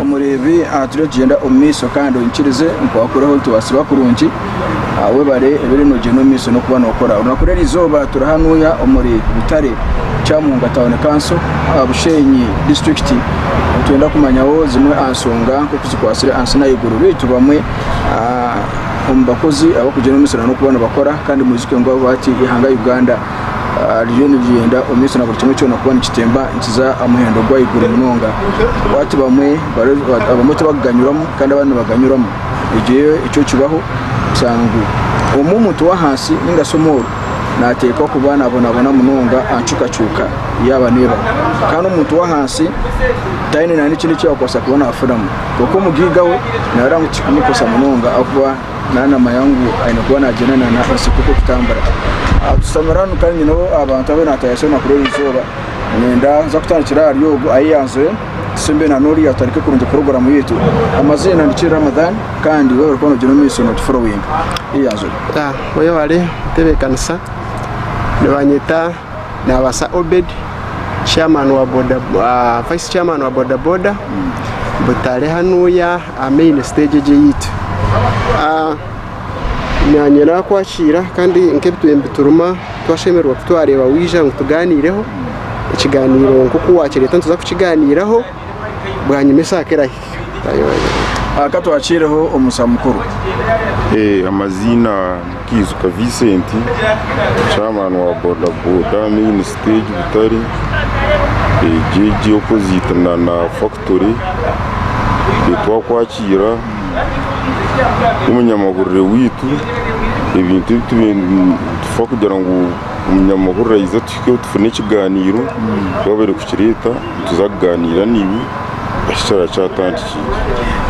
Omureebi aha turikugyenda omu maisho kandi oikirize ngu waakuraho nitubaasibwa kurungi aha webare obeire noogyenda omu maisho n'okuba nookora. Orunaku rw'eri izooba turi hanuuya omuri Butare, Kyamunga Town Council aha Bushenyi District nitwenda kumanyaho zimwe aha nshonga nk'oku zikwatsire aha nsi n'ahaiguru beitu bamwe omu bakozi abarikugyenda omu misiri n'okuba nibakora kandi mwijuke ngu ahabwaki eihanga Uganda ririyo nirigyenda omu maisho na buri kimwe kyona kuba nikitemba nikiza aha muhendo gw'ahaiguru munonga ahabwaki bamwe abamwe tibakuganyurwamu kandi abandi nibaganyurwamu egyo yo ekyo kibaho kushanga ngu omwe omuntu w'ahansi ninga shi omworu nateekwa kuba nabonabona munonga aha ncukacuuka yaaba neebaho kandi omuntu w'ahansi taine na n'ekindi eki arikubaasa kuba naafunamu. Kwonka omugiiga we naarora ngu tikikumukoresa munonga ahakuba naaba naamanya ngu aine kuba naagyenda na enseko ekutambura. Tushutamire hanu kandi nyine abantu abu naatayayo eizooba na kuri eizooba. Niinyenda nza kutandikira ahari ogwo ahu yaanzire tusembe n'oriya tutandike kurungi puroguraamu yaitu. Amaziina ndi Kid Ramadhan kandi waaba ori kuba noogyenda omu maisho nootuforowinga. Yaazo. Yeyaware kutebeekanisa. Nibanyeta. Naabaasa Obed, vice chairman wa boda boda, Butare hanuuya aha main stage egi eyaitu. Naanye naakwakiira kandi nk'ebituturuma twashemererwa kutwareeba waija ngu tugaaniireho, ekigaaniiro nk'oku waakireeta nituza kukigaaniiraho, bwanyima esaha ku erahi. Aka twakiireho omusa mukuru. Amaziina Kaijuka Vincent, Chairman wa Boda Boda Main Stage Butare, JJ opposite Nana Factory, twakwakiira nk'omunyamahurire waitu, ebintu ebi tibitufa kugira ngu omunyamahurire aize atuhikeho tufune ekigaaniiro, waaba arikukireeta. nituza kugaaniira naiwe eki kyaaba kyatandikire.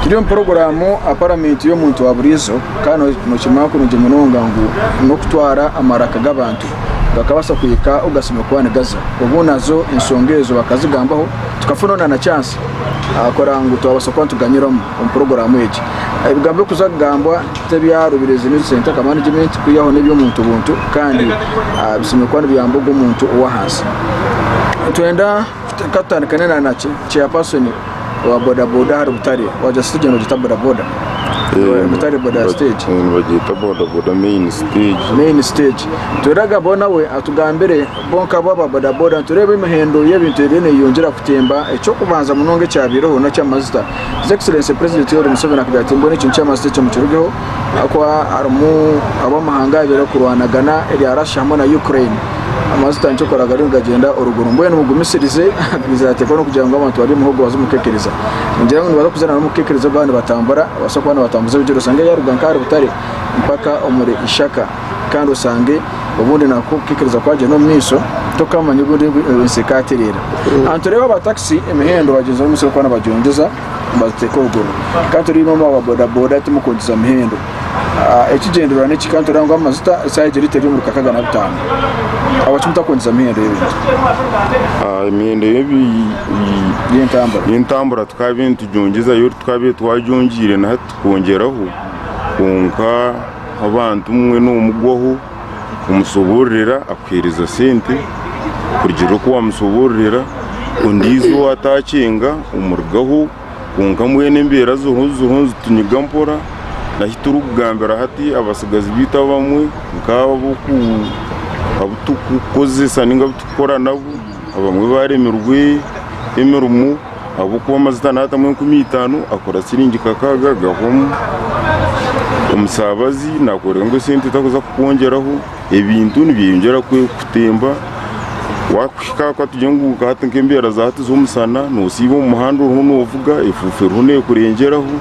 Turi omu puroguraamu a Paramenti y'omuntu wa buriijo kandi nookimanya kurungi munonga ngu n'okutwara amaraka g'abantu gakabaasa kuhika obu gatsiibire kuba nigaza. Obwo nazo ensonga ezo bakazigambaho tukafuna onaana kyansi ahabw'okugira ngu twabaasa kuba nituganyiramu. omu puroguraamu egi. Ebigambo birikuza kugambwa tibyarobire ezi New Centaka Management kwihaho n'eby'omuntu buntu kandi bishemereire kuba nibiyamba ogwo muntu ow'ahansi. Nitwenda ka tutandikane na na Chairperson wa bodaboda ahari Butare, waagira siteegi egi nibagyeta bodaboda? Butare boda stage. Eh, nibagyeta bodaboda main stage. main stage nitwenda kugambaho nawe atugambire bo nkabo aba bodaboda nitureeba emihendo y'ebintu eriyo neyeyongyera kutemba eky'okubanza munonga ekyabaireho n'eky'amazita His Excellency President Yoweri Museveni akagira ati mbwenu ekintu ky'amatsito ekyo mukirugeho ahakuba harimu ab'amahanga abiri barikurwanagana erya Russia hamwe na Ukraine amatsito nikyo kworeka gariyo nigagyenda oruguru mbwenu mugumisirize akagumiza ati ahakuba n'okugira ngu abantu bari omu muhogo baze omu kukekereza ningira ngu nibaza kuza n'omu kukekereza obu baba nibatambura nibabaasa kuba nibatambuza ebigyere oshange yaaruga nk'ahari butare mpaka omuri ishaka kandi oshange obundi nabwo okikiriza kwagyenda omu maisho tokamanya obundi ensi ekatereera ahantu oreeba aba taxi emihendo bagyenzaho omu misiri kwana bagyongyeza nibagiteeka oruguru kandi turiimo aba ba boda boda timukwongyeza mihendo ah, ekigyendererwa niki kandi tureeba ngu amajuta esaaha egi lita eri omuri kakaaga na butaano ahabwaki mutakwongyeza mihendo y'ebintu Ah, emihendo y'ebi by'entambura y'entambura tukaabaire nitugyongyezayo tukaabaire twagyongyeire naha tukongyeraho kwonka Aha abantu obumwe nomugwaho kumusobororera akuhereza sente kurugiirira oku wamusobororera ondiijo owataakyenga omurugaho kwonka mbwenu embeera ziriho ziriho nizitunyiga mpora n'ahu turikugambira hati abatsigazi baitu abamwe nk'abo ab'oku abu turikukozesa nainga abu turikukora nabo abamwe baaremirwe emirimo. ahabw'okuba amajuta naatamu enkumi itaano akora siringi kakaaga agahwamu, omusaabazi naakureeba ngu esente tarikuza kukwongyeraho, ebintu nibyeyongyera kutemba, waakuhika aha katugire ngu hati nk'embeera za hati z'omushana noosiiba omu muhanda oriho noovuga, efuufu eriho neekurengyeraho,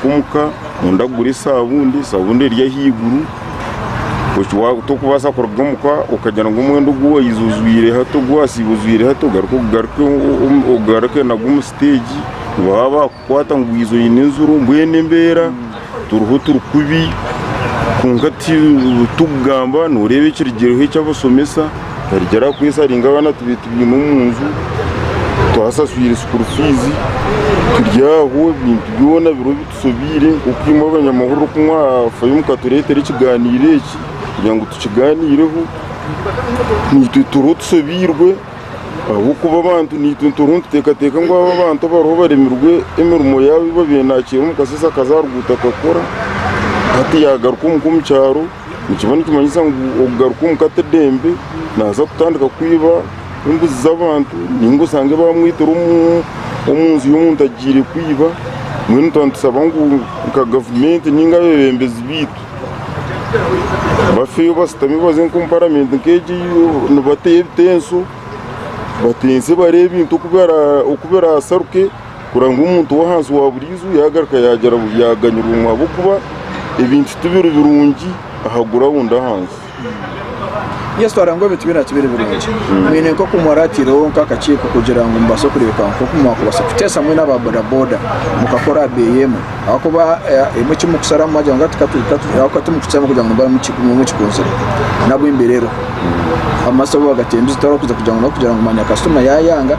kumuka noyenda kugura esabuuni, esabuuni eri ahaiguru tokubaasa kuruga omuka okagira ngu omwenda ogu waize ojwaire hati ogu wasiiba ojwaire hati ogaruke ogugarike ogugarike nagwo omu siteegi ngu baaba baakukwata ngu waize oine enziro mbwenu embeera turiho turi kubi kwonka ti tikugamba noreeba ekirigireho eky'abashomesa Twarekyera aha kwesaringa abaana beitu baine omu nju, twasaswire sukuru fiizi, turi aho ebintu byona biriho bitusobeire nk'oku imwe abanyamahurire oku mwafayo mukatureetera ekigaaniiro eki kugira ngu tukigaaniireho. Naitwe turiho tusobeirwe ahabw'okuba abantu naitwe turiho nituteekateeka ngu aba abantu abariho baremirwe emirimo yaabo ei baabaire naakiira omu kasheeshe akaza aha ruguuto akakora, hati yaagaruka omuka omu kyaro. Nikiba nikimanyisa ngu okugaruka omu ka t'eidembe, naaza kutandika kwiba embuzi z'abantu nainga osange baamwitire omu nju y'omuntu agiire kwiba. Mbwenu nituba nitushaba ngu nka gavumenti nainga abeebembezi baitu bafeeyo bashutame baze nk'omu paramenti nk'egi nibateyo ebitenso batense bareebe ebintu oku biraasaruke. kurora ngu omuntu ow'ahansi wa buriijo yaagaruka yaaganyirwa ahabw'okuba ebintu tibiri birungi aha gurawundi ahansi. Yesu arangwa ebintu byona tibiri birungi. Mwine nk'oku mwaraatirweho nk'akakiiko kugira ngu mubaase kureebeka nk'oku mwakubaasa kuteesa mwena aba bodaboda mukakora aha beeyi emwe ahabw'okuba emwe eki murikusharamu mwagira ngu ahabw'okuba timukukihitsyamu kugira ngu mube mukikunzire. Nabwe mbireeho amashopu bagatemba eizooba barikuza kugira ngu manya kasitoma yaayanga.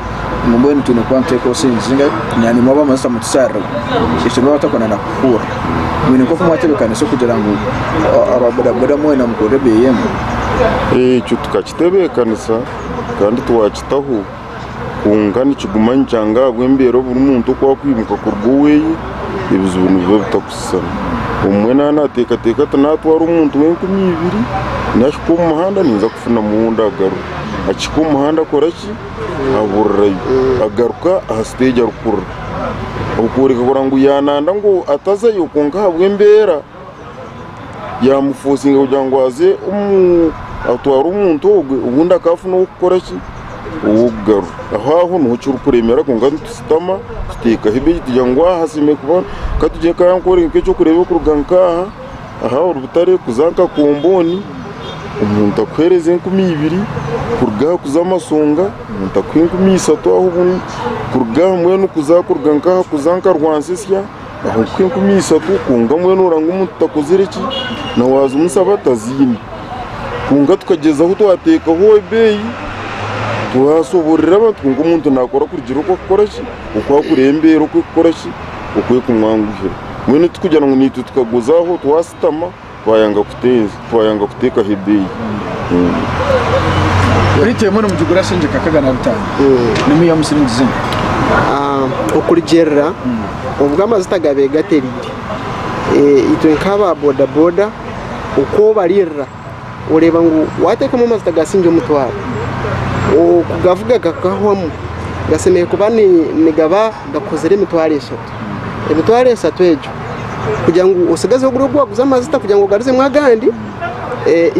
ngu mbwenu twine kuba nituteeka obusinguzi ninga kunyanyimwa abamajuta mu tushariro ekyo niba batakunda na kukuhurira mwine nk'oku mwatebekanisa okugira ngu a- aba bodaboda mwena mukorere ebeeyi emwe ekyo tukakitebeekanisa kandi twakitaho kwonka nikiguma nikyanga ahabw'embeera buri muntu oku arikwimuka kuruga oweeye ebizibu nibiba bitakushushana omwe naaba naateekateeka ati naatwara omuntu w'enkumi ibiri nahika omu muhanda ninza kufunamu ou ndagaruke akihika omu muhanda akora ki ahahurirayo agaruka aha siteegi arikukurura okworeka kurora ngu yananda ngu atazayo kwonka ahabw'embeera yamufosinga kugira ngu aze omu- atware omuntu ogwe obundi akaba afuna ow'okukora ki ow'okugarura aho aho niho kirikuremera kwonka nitushutama tuteekaho ebeitu tugira ngu aha hasemeriire kuba katugire ka nkore nk'ekyokureeba okuruga nk'aha Aha ori butare kuza nka komboni omuntu akuhereza enkumi ibiri kuruga aha kuza amasonga omuntu akuha enkumi isatu aho obumwe kuruga aha mbwenu kuza kuruga nka aha kuza nka rwansisya aho nkuha enkumi isatu kwonka mbwenu oranga omuntu takozire ki na wazimusaba taziine. Kwonka tukagyezaho twatekaho ebeeyi twasoborora abantu kwonka omuntu nakora kurugira oku arikukora ki oku arikureeba embeera oku erikukora ki. okwekumwanguhira mbwenu tikugira ngu naitwe tukaguzaaho twasitama twayanga kuteeza twayanga kuteekaho ebeeyi Lita emwe nimugigura sente nka kaga na bitaano n'emu ya musiri nigiza ente Ah, okurugyirira obu amajuta gabeegatereire Eh, itwe nk'aba bodaboda oku obaririra oreeba ngu wateekamu amajuta gasingi omutwaro, okugavuga gakahwamu gasemeriire kuba nigaba gakozire emitwaro eshatu. Emitwaro eshatu egyo kugira ngu otsigaze ogure ogu waguza amajuta kugira ngu ogarutsemu agandi,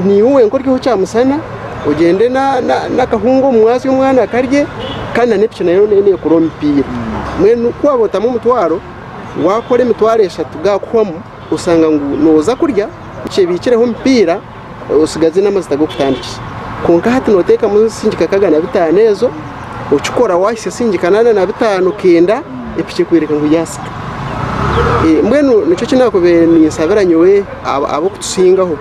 niiwe wenka ori haihi kyamushana, ogyende n'akahunga omu mwazyo kandi omwana akarye kandi na piki nayo neeye neekora omupiira. Mbwenu ku waaba otamu omutwaro, waakora emitwaro eshatu gaakuhwamu, Oshanga ngu noza kurya okyebikireho omupiira osigaze namazita gokutandikisa kwonka hati notekamu singika nkaga na bitaano ezo okikora wahitsya singika nana na bitaano kenda epiki ekwereka ngu yasika mbwenu nikyo ekinakubire ninsabira nyowe abokutusingaho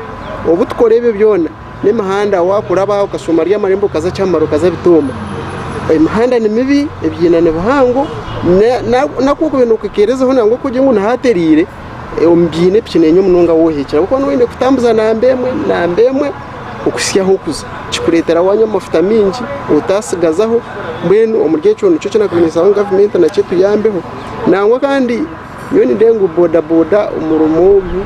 obutukora ebyo byona. n'emihanda wakuraba okashuma rya amarembo okaza kyamara okaza bitooma. Emihanda ni mibi, ebyina ni bihango, naku okube nokekerezaho nangwa ku ogire ngu ni haterire omu byina epiki nenya munonga waaba ohekire ahabw'okuba noba oyine kutambuza namba emwe namba emwe okuhisya ahu orikuza. Kikuretera wanywa amafuta mingi otatsigazaho mbwenu omuri ekyo nikyo eki nakubiire ninsaba gavumenti nacyo etuyambeho nangwa kandi. Nyowe nindeeba ngu bodaboda omurimo ogu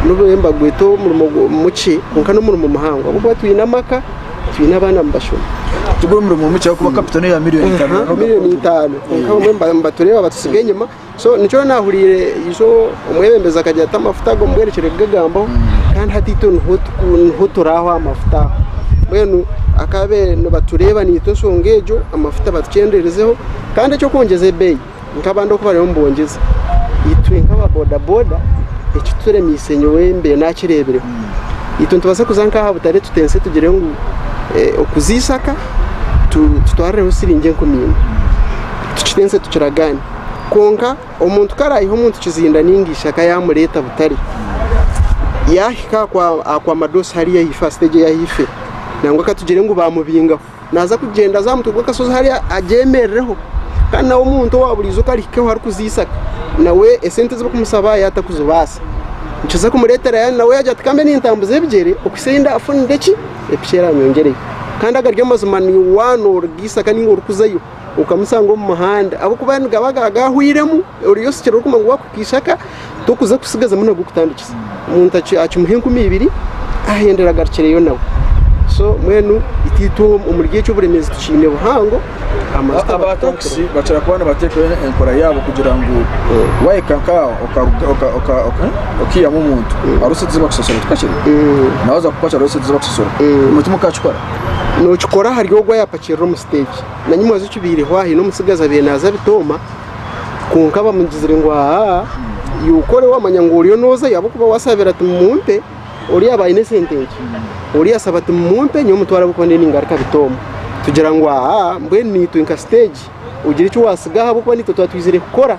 nobu bariyo nibagweta omurimo mukye kwonka n'omurimo muhango ahabw'okuba twine amaka, twine abaana nibashoma. Tiguri murimo mukye ahabw'okuba kapito n'eya miriyoni itaano na n'okwenda. Miriyoni itaano kwonka bamwe nibatureeba batutsiga enyima. So nikyo nyowe naahuriire isho omwebembezi akagira ati amafuta ago mubwerekyere kugagambaho kandi hati itwe niho turi aho aha mafuta aho. Mbwenu akaabe nibatureeba naitwe enshonga egyo amafuta batukyenderezeho kandi eky'okwongyeza ebeeyi. nk'abandi oku bariyo nibongyeza, itwe nk'aba bodaboda ekituremiise nyowe mbiire naakireebire, itwe nitubaasa kuza nk'aha butare tuteese tugire ngu okuza eishaka tutwarireho shiringi enkumi ibiri, tukiteese tukiragaane. Kwonka omuntu ku araayiha omuntu kizinda nainga eishaka yaamureeta butare, yaahika akwa madoosi hariya aha ifo aha siteegi eyi ahu ifire, nangwa ka tugire ngu baamubingaho, naaza kugyenda aze aha mutwe gw'akashozi hariya agyemerereho kandi nawe omuntu owa buriijo ku arihikeho arikuziisa nawe esente ezi barikumushaba yaatakuzibaasa nikiza kumureetera yaaba nawe yaagira ati kambe nintambuza ebigyere okuhitsya ei ndaafunire ki, piki erangyongyereyo. Kandi agari amazima niiwe waaba nooruga eisaka nainga orikuzayo. okamusanga omu muhanda ahabw'okuba nigaba gaahwairemu, oriya osikire orikuguma ngu waakuhika eishaka tokuza kutsigazamu nago kutandikisa. Omuntu akimuha enkumi ibiri ahendere agarukireyo nawe. So mbwenu itwe omuri ekyo oburemeezi tukiine buhango. Aba takisi bakira kuba nibateekaho enkora yaabo kugira ngu waahika nk'aho okaihamu omuntu hariho esente ezi bakusosorera tikakira? Nawe oza kupakiira hariho esente ezi bakusosorera. Ekyo mukakikora? Nookikora ahari ogwo ayaapakirira omu siteegi. Nanyu mwaza okibaireho aha, haine omutsigazi abaire naaza abitooma, kwonka bamugizire ngu aa, iwe okore waamanya ngu oriyo noozayo ahabw'okuba waasabire ati, 'Mumumpe. Ori yaaba aine sente nkye, ori yaasaba ati, 'Mumumpe nyowe mutware ahabw'okuba ndiyo ningaruka abitooma. Tugira ngu aa, mbwenu naitwe nka siteegi ogira eki waatsigaho ahabw'okuba naitwe twaba twizire kukora.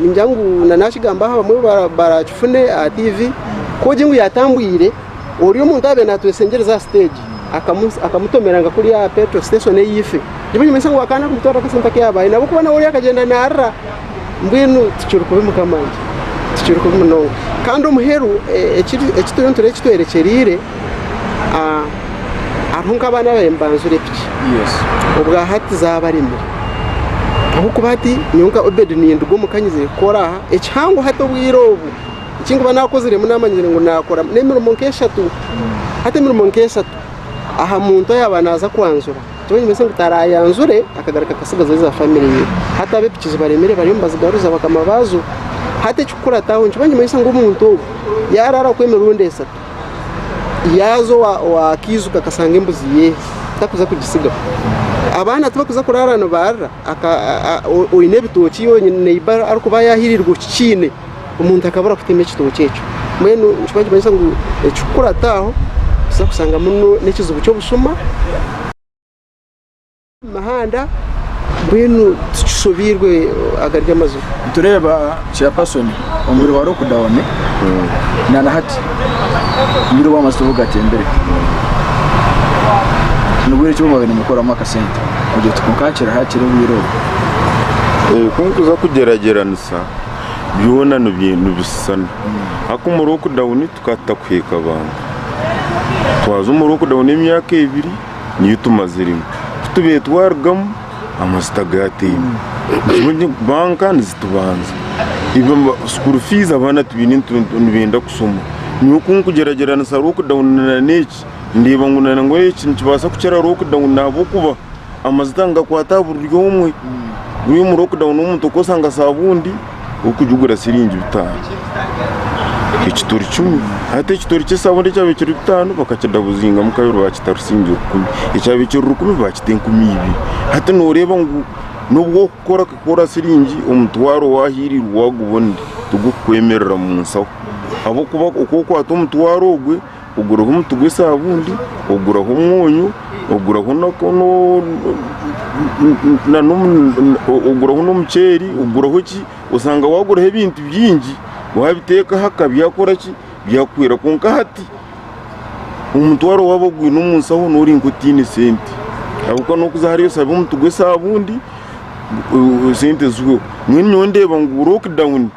Ningira ngu na nakigamba aha bamwe barakifune aha TV kogye ngu yatambwire ori omuntu abe natwesengyereza aha stage akamutomera nka kuri aha petro station eyife niba nimanyisa ngu akana kumutwara akasente akayabaye nabo kuba nawe ori akagenda narira mbwenu tikiri kubi mukama wangye tikiri kubi munonga kandi omuheru ekituriyo nitureeba ekitwerekyerire. ah, hariho nk'abaana ababaire nibanzura epiki obwa hati zaabaremire ahabw'okuba hati nyowe nka obedi ninduga omuka nyize kukora aha ekihango hati obwire obu ekinkuba naakoziremu naamanyire ngu naakora n'emirimo nk'eshatu hati emirimo nk'eshatu aha muntu ayaaba naaza kwanzura kyoba nikimanisa ngu taraayanzure akagaruka akatsigaza eza famire ye hati ab'epiki zibaremire bariyo nibazigaruza bakama baazo hati ekikukurataho nikyo nikimanyisa ngu omuntu ogu yaaraara kwe emirundi esatu yaaza ow'akaiju kakashanga embuzi ye takuza kugitsigaho. Abaana tibakuza kuraara nibaarira, oine ebitookye iwe neiba arikuba yaahirirwa okikiine, omuntu akabura kutema ekitookye ekyo. Mbwenu nikyo barikimanyisa ngu ekikukurata aho, nobaasa kushanga n'ekizibu ky'obushuma. Omuhanda mbwenu tukishobeirwe agari amazima. Nitureeba chairperson omubiri wa lockdown na na hati omubiri wa mazitu bugatembire nibwo eki bumwabire nimukoramu akasente ogira oti kwonka hakiri hakiri obwire obu kunkuza kugyeragyeranisa byona nibishushana haku omu lockdown tukaba tutakuhiika bantu twaza omu lockdown emyaka ebiri niyo tumaziremu ku tubaire twarugamu amazita gataine nikyo banka nizitubanza school fees abaana tibaine nibenda kushoma nyowe ku nkugyeragyeranisa lockdown na n'egi ndeeba ngu na n'obu eki nikibaasa kukira lockdown ahabw'okuba amazita nigakwata aha buri omwe, omu lockdown omuntu okosanga saabundi. orikugigura siringi bitaano ekitoori kimwe hati ekitoori ky'esabuni ekyabaire kiri bitaano bakakidabuzingamu kabiri baakita rusiingi rukumi ekyabaire kiri rukumi baakita enkumi ibiri hati nooreeba ngu n'obwokukora kukora siringi omutwaro waahirirwa waagubona tigukukwemerera mu nsaho ahabw'okuba ku okwata omutwaro ogwe Oguraho omuti gw'esabuuni, oguraho omwonyo, oguraho n'omuceeri, oshanga waguraho ebintu bingi wabiteeka ahaka byakuhwera kwonka hati omutwaro waaba ogwine omu nshaho n'ori nk'otaine sente ahabw'okuba n'okuza hariya oshabe omuti gw'esabuuni sente zihweho, mbwenu nyowe ndeeba ngu lockdown.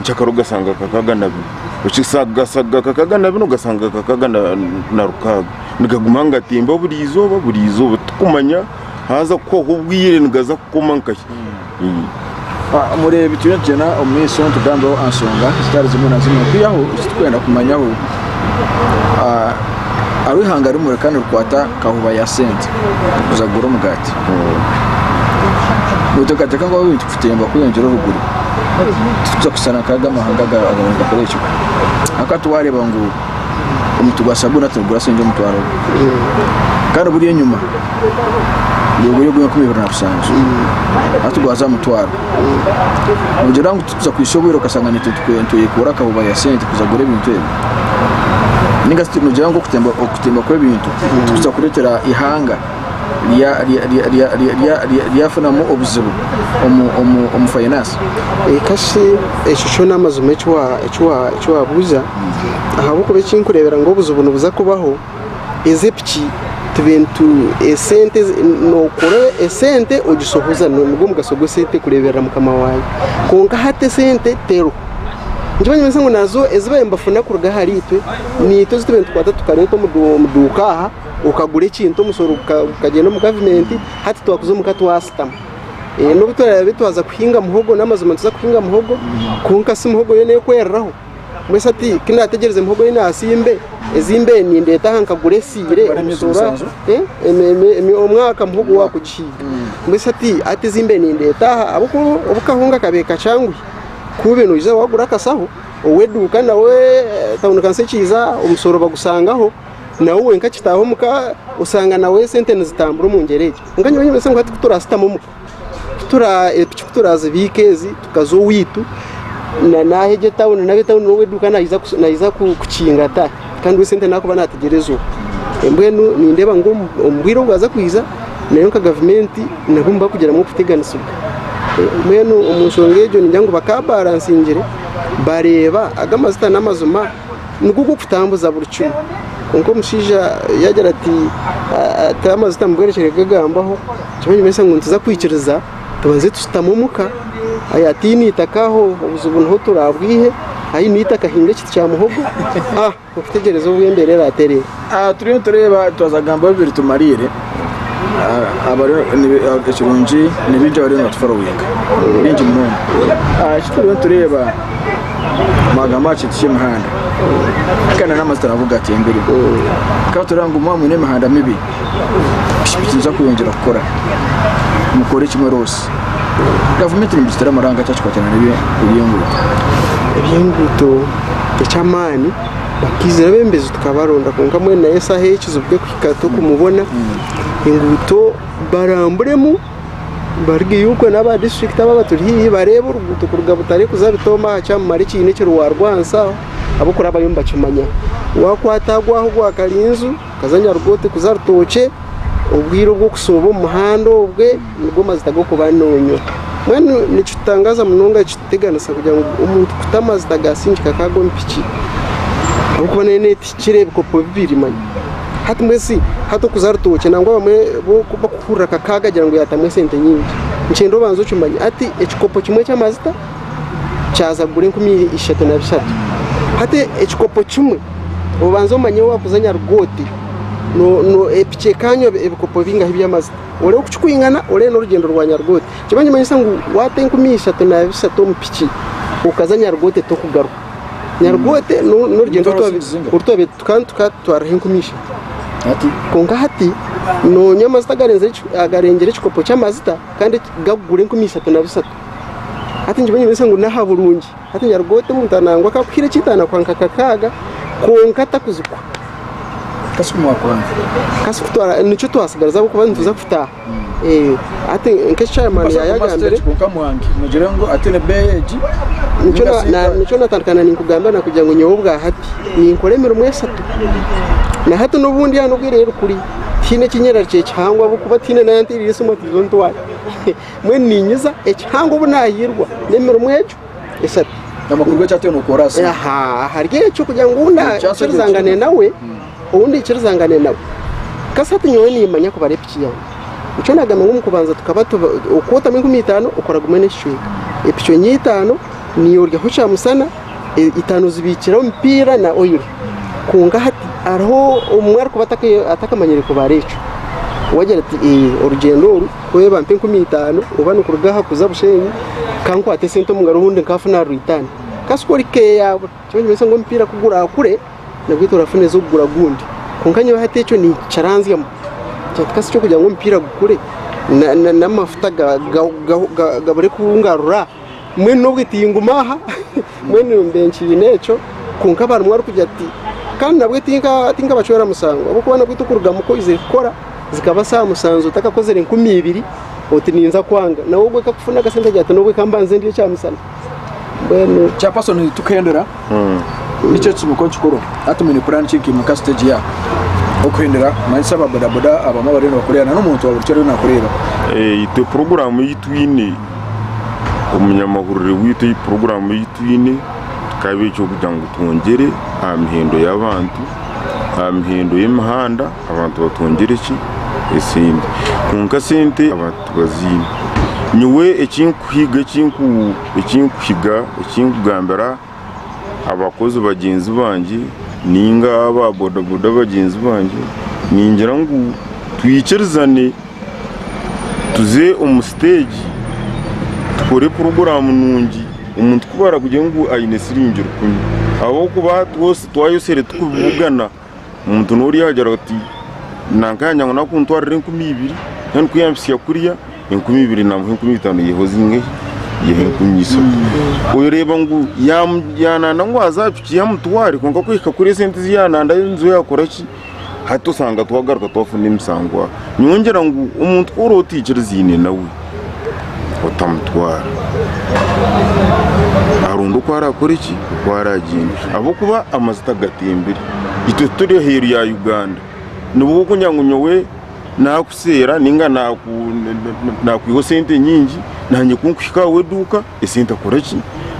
nk'akaro ogasanga nkakaaga na bina ogasanga nkakaaga na bina ogasanga nkakaaga na rukaaga nigaguma nigatimba buri izooba buri izooba tikumanya haaza kuhwaho obwire nigaza kukoma nkahi mureeba ekiriyo nikigyenda omu maisho nitugambaho aha nsonga zitari zimwe na zimwe kwihaho eki turikwenda kumanyaho hariho ihanga rimwe reka nirikwata kahuba ya sente kuza kugura omugaati noteekateeka ngu Titwayomba kweyongyera obuguru, titwija kushushana nk'ago amahanga agaba nigakora ekyo. Ahakuba titwareeba ngu omuti gwa sabuuni aturikugura sente omutwaro gumwe, kandi oburi enyima nigugura ogwa enkumi ibiri na bushanju, hati gwaza aha mutwaro. Noogira ngu titwija kuhitsya obwire okashanga naitwe nitweyekuura akahuba ya sente kuza kugura ebintu ebi? Nainga shi noogira ngu okutemba kw'ebintu tikurikwija kureetera eihanga ryafunamu obuzibu omu finance. Kasha ekyo kyo namazima ekiwabuza ahabwokuba ekinkurebera ngu obuzibu nibuza kubaho ezi epiki nokora esente ogishohoza nigwo omugasho gwa esente kureberera mukama wawe kwonka hati esente teriho nikyo ekirikunyeresa ngu ezibabaire nibafuna kuruga ahari itwe niitwe ezitubaire nitukwata tukareeta omuduuka aha. okagura ekintu omusoro gukagyenda omu gavumenti hati twakuza omuka twasitama eh, nobu turabe twaza kuhinga muhogo n'amazima tuza kuhinga muhogo kwonka si muhogo yona ekwereraho mbwese ati kinategyereza muhogo yi nasimbe ezimbe nindeeta aha nkagura esiire omusoro eh, omwaka muhogo wakugihinga mbwese ati ati ezimbe nindeeta aha ahabw'okuba obukahunga kabe kacangwi kube noija wagura akasaho oweduuka nawe eh, tawuni kansi ekiija omusoro bagusangaho nawe wenka kitaaho omuka osanga nawe esente nizitambura omu ngyera egyo. Kwonka nyowe nyimanyisa ngu hati ku turashutami omuka, ku tura epiki ku turazibiika ezi tukaza owaitu, na naaha egyo etawuni nari etawuni n'owa eduuka naija ku naija ku kukinga ta, kandi we esente naakuba naategyereza oku. Mbwenu nindeeba ngu omu omu bwire obu baaza kwija nayo nka gavumenti nabwo nibakugiramu okuteganisibwa. Mbwenu omu nshonga egyo ningira ngu bakaabaaransingire bareeba ago amazita n'amazima. nigwo gw'okutambuza buri kimwe. Kwonka omushaija yaagira ati, Taaha amajuta mu bwerekyeryo kugagambaho, nikyo nimanyisa ngu nituza kwikiriza tubanze tushutame omu ka. Aye ataine eitaka aho obuzibu niho turaabwihe. Aine eitaka ahinga ekiti kya muhogo. Okutegyereza obu embeera eraaterera! Aha turiyo nitureeba twaza kugamba ebi biritumariire ekirungi ni baingi abariyo nibatuforoyinga baingi munonga eki turiyo nitureeba mwagamba aha kintu ky'emihanda kandi n'amazita nago gaatembire ka tureeba ngu mwaba mwine emihanda mibi piki piki niziza kweyongyera kukora mukore kimwe roosi gavumenti nimugiteera amaraanga caakikwatiraine n'eby'enguuto. Eby'enguuto eky'amaani. Twizire abembezi tukabaronda kwonka mbwenu nayo esaaha eyi ekizibu kyokuhika tokumubona enguuto baramburemu barigeyo okwe naba district aba abaturi hihi bareebe oruguuto kuruga butare kuza bitooma aha kyamumara ekine ekiri warwansi aho abokurabayo nibakimanya wakwata ago aho gwa karinzu Akaza nyaruga oti kuza Rutookye, obwire obw'okushooba omu muhanda obwe nibwo mazita g'okuba noonywa. Mbwenu nikitutangaaza munonga kituteganisa kugira ngu omuntu kuta amazita gaasiingika ka ag'omu piki ahabw'okuba nayo neetihikira ebikopo bibiri manya. Hati mbwenu hati okuza Rutookye nangwa abamwe bo bakuhurira akakaaga agira ngu yaatamu esente nyingi. Nikigyenda obanze okimanye hati ekikopo kimwe ky'amazita kyaza kugura enkumi ishatu na bishatu. Hati ekikopo kimwe obanza omanye wakuza nyarugooti piki ekanywa ebikopo bingahi by'amazita orebe ku kikwingana orebe n'orugyendo rwa nyarugooti. Kyoba nikimanyisa ngu wata enkumi ishatu na bishatu omu piki okaza nyarugooti tokugaruka. Nyarugooti n'orugyendo orutwabe tukaba tukatwaraho enkumi ishatu. Kwonka hati nonywa amazita agarengyera ekikopo ky'amazita kandi gakugura enkumi ishatu na bishatu. hati nyowe ninyemenyesa ngu n'aha burungi hati nyaruga ota omuntu nangwa akakuhire eky'itaano akuha nka kakaaga kwonka atakuzikwa Kasi ku mwakuba ngu kasi kutwara nikyo twatsigariza ahabw'okuba nituza kutaaha Eh, hati nk'eki chairman basa kuba yayagambire stage kwonka mwangi mugire ngu ati ni beeyi egi nikyo na- ninga na- si- nikyo natandikana ninkugambira nakugira ngu nyowe obwa hati ninkora emirimo esatu na hati n'obundi aha n'obwire rukuri tihaine ekinyerarikya ekihangwa ahabw'okuba tihaine n'ayanteereire esimu ati zo ntware Mbwenu niinyiza ekihango obu naahirwa n'emirimo egyo eshatu. Amakuru g'eki atwire nookora asi. Aha, ahari ekyo kugira ngu ou ndaikirizangane nawe, ou ndaikirizangane nawe. Kasati nyowe niimanya kubara epiki yange. Nikyo naagambire ngu omu kubanza tukaba tuba okuba otamu enkumi itaano okora gumwe n'ekicweka. Epiki enye itaano niiwe oryaho kyamushana, e- itaano ozibiikire omupiira na oyiro. Kwonka hati hariho omwe arikuba ataka- atakamanyire kubara ekyo. Waagira ati, Ee, orugyendo oru Kweeyi bampa enkumi itaano oba nikuruga aha kuza Bushenyi kankwata esente omu ngaro obundi nkafuna aha Rwitanhi. Kasi ku ori keeya yaabura nikyo nikimanyisa ngu omupiira ku guraakure nabweitu orafuna ez'okugura ogundi. Kwonka nyowe hati ekyo nikiranzyamu kugira nti kasi eky'okugira ngu omupiira gukure n'amafuta gabure kungarura? mbwenu n'obu tinguma aha mbwenu mbe nkiine ekyo kwonka bamwe barikugira ati kandi nabwo tinkabacwera musango ahabw'okuba nabwo tikurugamu ku oizire kukora zikaba saaha musanju otakakozire nkumi ibiri oti ninza kwanga nawe ogwo ku akafuna akasente agira ati n'obu ka mbanze ndye ekyamisana mbwenu chairperson tukeendelea. Nikyo kitsibuko kikuru hati mwine puraani ki nkaimwe nka siteegi ya okuhendera kumanyisa aba bodaboda abamwe abariyo nibakureeba na n'omuntu wa burikyo ariyo nakureeba? Eh, itwe puroguraamu ei twine, omunyamahurire waitu ei puroguraamu ei twine kikaba eky'okugira ngu twongyere aha mihendo y'abantu, aha mihendo y'emihanda abantu batwongyere ki? Esente. Kwonka sente abantu tibaziine. Nyowe eki nkuhiga eki nku. ekinkuhiga ekinkugambira abakozi bagyenzi bangye ninga aba bodaboda bagyenzi bangye ningira ngu twikirizane tuze omu siteegi tukore puroguramu nungi omuntu kubarikugira ngu aine siringi rukumi ahabw'okuba twayosire turikubibugana. Omuntu n'ori yaagira ati, nanka yagira ngu naakuntwarira enkumi ibiri, mbwenu ku yampitsya kuriya, enkumi ibiri naamuha enkumi itaano iyeho zingahi? Iyeho enkumi ishatu. Oreeba ngu yaamu- yaananda ngu aze aha piki ye amutware kwonka kuhika kuri esente ezi yaanandayo nizo yaakora ki? Hati osanga twagaruka twafuna emishango aha. Nyowe ngira ngu omuntu ku orooba otaikirizaine nawe, otamutwara aronde oku arakore ki oku aragyenze ahabw'okuba amazita gatembire itwe turi aheeru ya Uganda nibwo orikugira ngu nyowe nakuseera ninga naku na- nakwihaho sente nyingi nanye ku nkuhika aha w'eduuka esente akore ki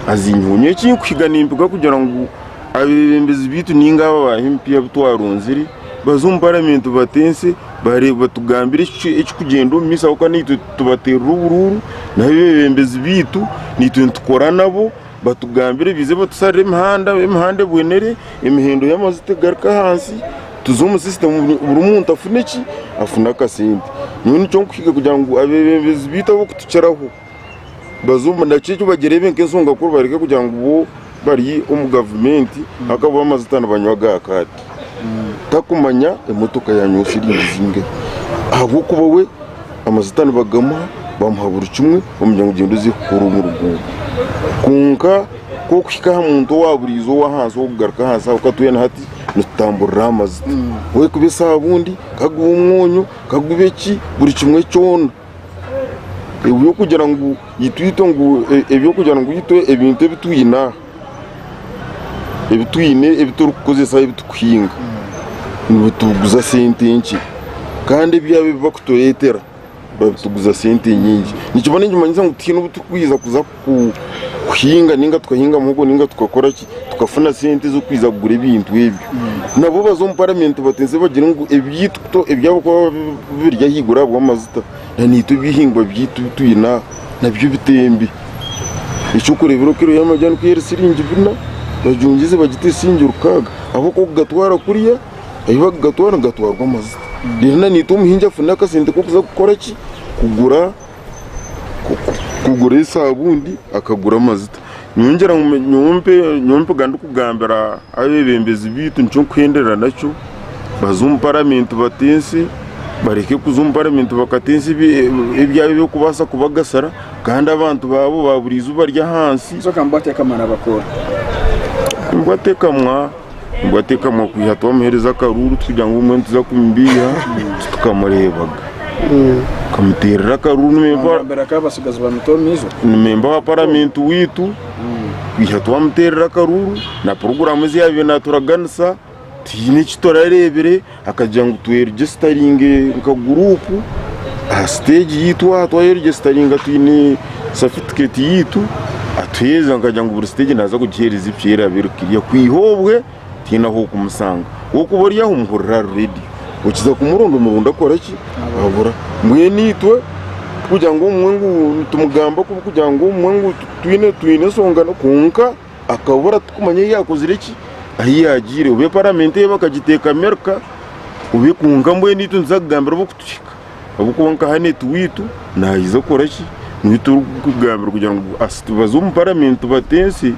azinyiheho nyowe eki nkuhiga nimpiga kugira ngu abeebembezi baitu ninga aba ba MP abu twaronzire baze omu paramenti batense Bareeba batugambira ekirikugyenda omu maiso ahabw'okuba naitwe tubateerera oburuuru, nabo abeebembezi baitu naitwe nitukora nabo, batugambire baije batusalire emihanda, emihanda ebonere, emihendo y'amajuta egaruke ahansi, tuze omu sisitemu buri muntu afune ki, afune akasente. Nyowe nikyo nkuhiga kugira ngu abeebembezi baitu abarikutukiraho, bazoomu nakyo eki bagireebe nk'ensonga kuri bareke kugira ngu bo bari omu gavumenti ahakuba bo amajuta nibanywa aga kaati takumanya emotoka yaanywa shiringi zingahi ahabw'okuba we amajuta nibagamuha bamuha buri kimwe bamwira ngu gyenda oze kukora omu ruguuto kwonka ku orikuhika aha muntu owaaburiijo ow'ahansi orikugaruka ahansi ahabw'okuba twena hati nitutamburira aha majuta, ku orikuba esaabundi, ka gube omwonyo, ka gube ki buri kimwe kyona. ebyokugira ngu itwe ngu ebyokugira ngu itwe ebintu ebitwine aha ebitwine ebiturikukozesa ebitukuhinga nibituguza sente nkye kandi ebyabo ebibakuturetera babituguza sente nyingi nikimanyisa ngu tihaine obuturikuheza kuza kuhinga ninga tukahinga muhogo ninga tukakora ki tukafuna sente z'okwija kugura ebintu ebyo nabo baza omu paramenti bateeze bagire ngu ebyaitu kuto ebyabo kuba biri ahaiguru ahabw'amajuta na naitwe ebihingwa byaitu bi twine aha nabyo bitembe. Eky'okureeberaho kiro y'amajaani ku eri siringi bina bajungize bagite siringi rukaaga ahabw'okuba okugatwara kuriya ahi bakugatwara nigatwarwa amajuta reero na naitwe omuhingi afune akasente k'okuza kukora ki kugura kugura esabuuni akagura amajuta nyowe ngira ngu nyowe mpe nyowe mpega ndikugambira abebembezi baitu nikyo nkuhenderera nakyo baze omu paramenti bate ensi bareke kuza omu paramenti bakata ensi ebi- ebi- ebyabo ebirikubaasa kubagasira kandi abantu baabo baburiijo bari ahansi Kyokambwate kamara bakora. Nibwo atekamwa. nibwo atekamwa kwiha twamuhereza akaruuru tugira ngu mbwenu tuza kumubiiha tukamureebaga tukamuterera akaruuru nimemba Nambere akaba abatsigazi bamita omu izo. nimemba wa paramenti waitu kwiha twamuterera akaruuru na puroguramu ezi yaabaire naaturaganisa tihaine eki turareebire Akagira ngu tweregyeesitaringe nka guruupu aha siteegi yaitu aha twayeregyeesitaringa twine satifiketi yaitu atuheereza akagira ngu buri siteegi naaza kugiheereza eki eraabe eri kiriya kwiha obwe tihaine ahu orikumushanga waaba ori aho omuhurira ari reedi okiza kumuronda omuronda akora ki abura mbwenu itwe tikugira ngu obumwe ngu nitumugamba kubi kugira ngu obumwe ngu twine ensonga kwonka akabura tukumanya ahu yakozire ki ahu yagiire obe paramenti eye bakagiteeka amerika obe kwonka mbwenu itwe nituza kugambira obu okutuhika obu kwonka hanu etuwitu nayiza kukora ki niwe turikugambira kugira ngu asiti baze omu paramenti batense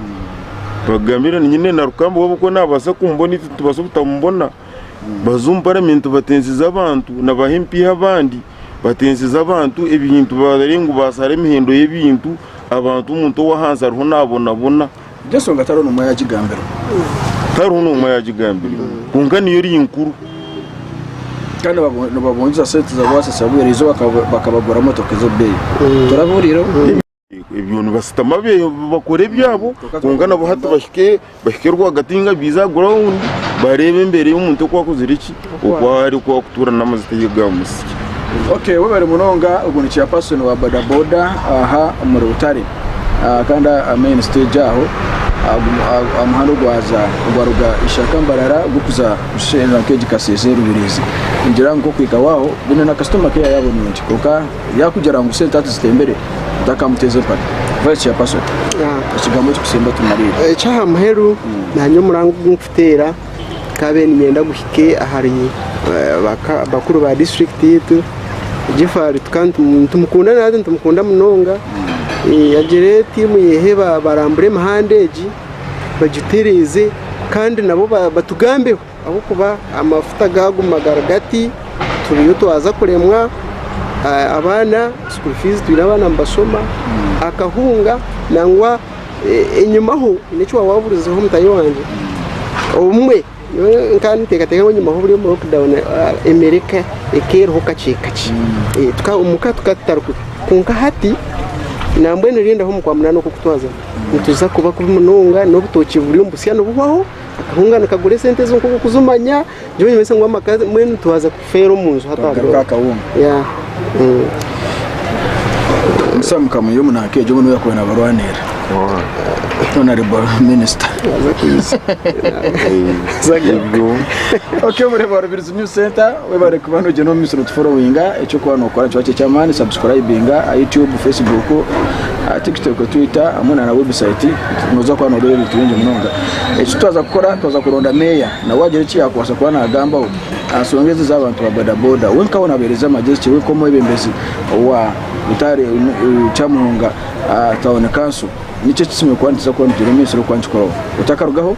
bagambire nyine na rukamba obu okuba nabaasa kumubona itwe nitubaasa obutamubona Baza omu paramenti batensize abantu na ba MP abandi batensize abantu ebintu barore ngu basara emihendo y'ebintu abantu omuntu owahansi ariho nabonabona. Egyo ensonga tariho n'omwe ayagigambirwe. Tariho n'omwe ayagigambirwe kwonka niyo eri nkuru. Kandi nibabu- nibabungiza sente za bwasasi habw'eira eizoba bakaba- bakabagura motoka ez'obubeeyi. Torabihuriireho? ebyo nibasitama bakore ebyabo kwonka nabo hati bahike bahike rwagati ninga baize aha ground bareebe embeera y'omuntu oku akozire ki oku ari oku arikutuura n'amazita ei aga musya. Okay webare munonga ogwo ni chairperson wa bodaboda aha omuri butare ah, kandi aha main stage aho ah, gum- ah, aha muhanda ogwaza ogwaruga ishaka mbarara gukuza kusherura nk'egi kasese rubirizi ningira ngu nk'okuhikaho aho bwine na customer care yaabo nungi kwonka Yakugira ngu sente hati zitembere otakamuteza empaka kuba eki chairperson ekigambo eki kusemba otumariire. Ekyaha muheru nanye omurango ogu nkutera nkabe ninyenda guhike ahari bakuru ba district yaitu Jeffery nitumukunda natwe nitumukunda munonga agire tiimu yehe barambure emihanda egi bagitiriize kandi nabo batugambeho. Ahabw'okuba amafuta gaaguma gari gati turiyo twaza kuremwa abaana school fees twine abaana nibashoma, akahunga nangwa enyima ho haine eki waaba waburizeeho mutaahi wangye, obumwe nyowe nkaba ninteekateeka ngu enyima h'oburi omu lockdown emeere ekaba eriho kakye kakye omu ka tukaba tutarikwe kwonka hati nambwenu rinda h'omu kwa munaana oku okutwazamu nituza kuba kubi munonga n'obutookye buriyo nibusya nibuhwaho. Akahunga nikagura esente ezo nk'oku okuzimanya, nikyo nimanyisa ngu amaka mbwenu nitwaza kufeera omu nju hataha Akagaruka mbwenu. akahunga. Yeah. Mm. Musa mukamwiha omu naaka egyo obone yakuba nabarwanirira. Honorable Minister. Aza kwiza. Aza kwiza. Ebyo. Okay, Bureba Rubirizi News Center. Webare kuba nogyenda omu maisho notuforowinga ekyokuba nokora nikiba kiri ekyamaani subscribinga aha YouTube, Facebook, Tiktok, Twitter hamwe na website noza kuba noreeba ebintu bingi munonga ekitwaza kukora twaza kuronda mayor nawe agira eki yakubaasa kuba nagambaho aha nsonga ezi z'abantu ba boda boda we nkawe nabahereza amagyezi ki we nk'omwebembezi owa Butare Kyamuhunga Town Council niki eki tusemeriire kuba nituza kuba nitugyenda omu maisho orikuba nikikoraho otakarugaho?